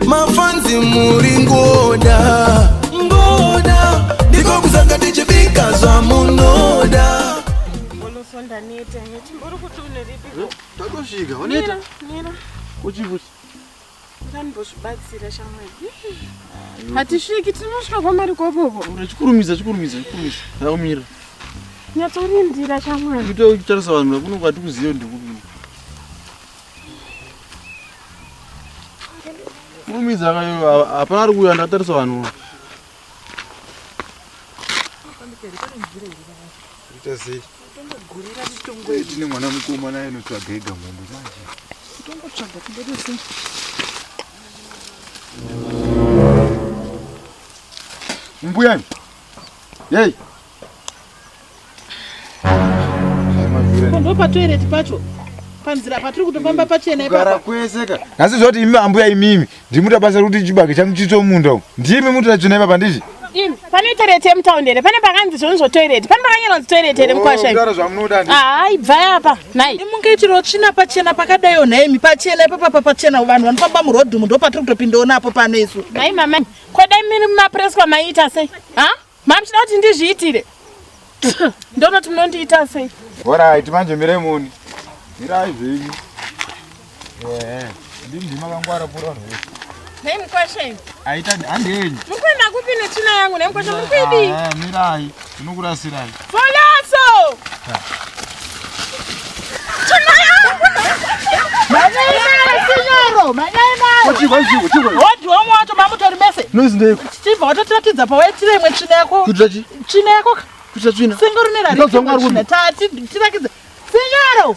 mafanzi muri ngoda ngoda ndiko kuzanga tichibika zvamunoda takosvika waneta uchibusa ndanimbozvibatsira shamwari ah, hatisviki tinosvika kwamari kwakoko chikurumidza chikurumidza chikurumidza aumira nyatsorindira shamwari kutotarisa vanhu vakunonga tikuziva ndikupi Mumidzi akayo hapana ari kuuya ndatarisa vanhu. Ita sei? Tongogurira mitongo yedu. Tine mwana mukoma naye anotsvaga ega mombe manje. Tongotsvaga tingoda sei? Mbuya. Yei. Kondo pa toilet pacho panzira patiri kutofamba pachena ipapa kwese ka nhasi zvoti imi ambuya imimi ndimuta basa rekuti chibage changu chitomunda umu ndimi mutoda tsvina ipapa ndizvi Imi, pane toilet yemutown here pane pakanzi zvoni zvotoilet pane pakanyora kuti toilet here mukwasha imi? kudaro zvamunoda ndi haa ibvai apa nhai imunge chiro tsvina pachena pakadayo nhaimi pachena ipapa papachena vanhu vanofamba murodhumu ndopatiri kutopindawo napo pano isu nhai mama kodai miri mumapreswa maiita sei ha Mama muchida kuti ndizviitire. Ndonoti munondiita sei? Alright, manje mire muni. Mirai zvenyu. Yeah. Ndimi ndima kangwara pura vanhu vese. Nei mukwashe? Aita handenyu. Mukwenda kupi netsvina yangu nei mukwashe muri kuidii? Ah, mirai. Ndinokurasirai. Chichibva watotiratidza pawaitira imwe tsvina yako. Kuitira chi? Tsvina yako. Kuitira tsvina. Sengoro nerari. Ndozongwa rwuno. Tati tirakidze. Sinyaro.